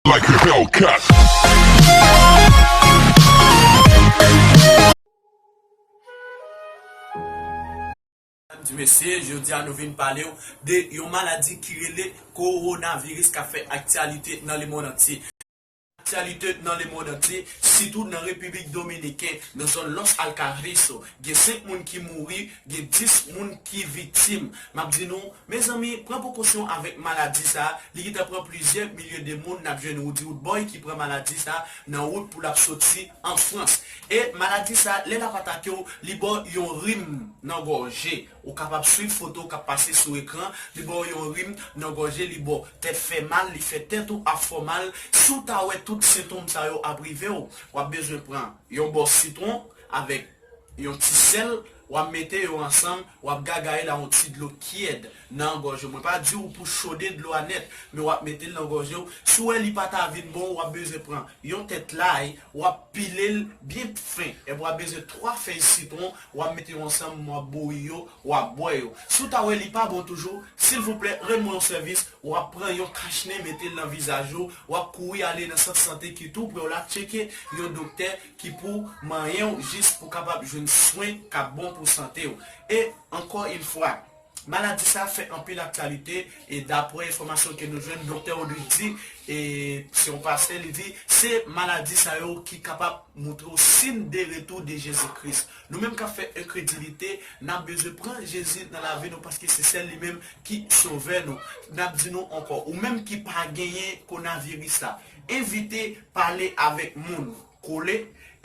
Like a Hellcat. Medam di mesye, jodi a nou vin pale w de yon maladi ki rele Kowonaviris kap fè aktyalite nan lemond antye. Aktyalite nan lemond antye, sitou nan Repiblik Dominiken, nan zòn Los Alcarrizo, gen 5 moun ki mouri Gen 10 moun ki viktim. M ap di nou, Mezanmi, pran prekosyon avèk maladi sa, li gentan pran plizyè milye de moun, n ap jwenn Roody Roodboy ki pran maladi sa nan wout pou l ap soti an Frans. E maladi sa, lè l ap atake w, li ba w yon rim nan gòje. Ou kapab swiv foto k ap pase sou ekran, li ba w yon rim nan gòje, li ba w tèt fè mal, li fè tèt ou ap fè w mal. Si w ta wè tout sentonm sa yo ap rive w, w ap bezwen pran yon bò sitwon avèk. Yon ti sèl, wap mete yo ansanm, wap gagaye la yon ti dlo tièd nan gòj ou. Mwen pa di ou pou chode dlo a nèt, men wap mete l nan gòje ou. Si ou wè li pa ta vin bon, wap bezwen pran yon tèt lay, wap pile l byen fen, epi wap bezwen 3 fèy sitwon, wap mete yo ansanm, wap bouyi yo, wap bwè yo. Si ou ta wè li pa bon toujou, silvouplè rann mwen yon sèvis, wap pran yon kach nen mete l nan vizaj ou, wap kouri ale nan sant sante ki tou prè w la tcheke yon doktè, ki pou manyen w jis pou kapab jwenn swen k ap bon pou sante w. E, ankò in fwa, maladi sa a fè anpil aktyalite e dapwè enfòmasyon ke nou jwenn Doktè Rodrigue di, e, se yon pastè, li di, se maladi sa yo ki kapab moutre w sin de retou de Jezi Kris. Nou menm k ap fè enkredilite, n ap bezwen pran Jezi nan lavi nou paske se sèl li menm ki Sovè nou. N ap di nou ankò, ou menm ki pa genyen konaviris la, Evite pale avèk moun, kole,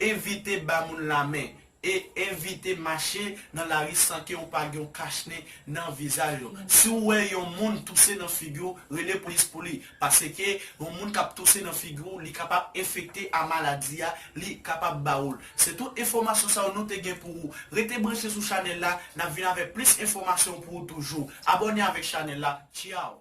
evite ba moun lamen, e evite mache nan lari san ke ou pa gen yon kachnen nan vizaj ou. Si ou wè yon moun touse nan figi ou, rele polis pou li, paske yon moun kap touse nan figi ou li kapab enfekte a maladi a, li kapab ba ou l. Se tout enfòmasyon sa yo nou te gen pou ou. Rete branche sou chanèl la, nap vin avèk plis enfòmasyon pou ou toujou. Abòne avèk chanèl la. Tchyaw!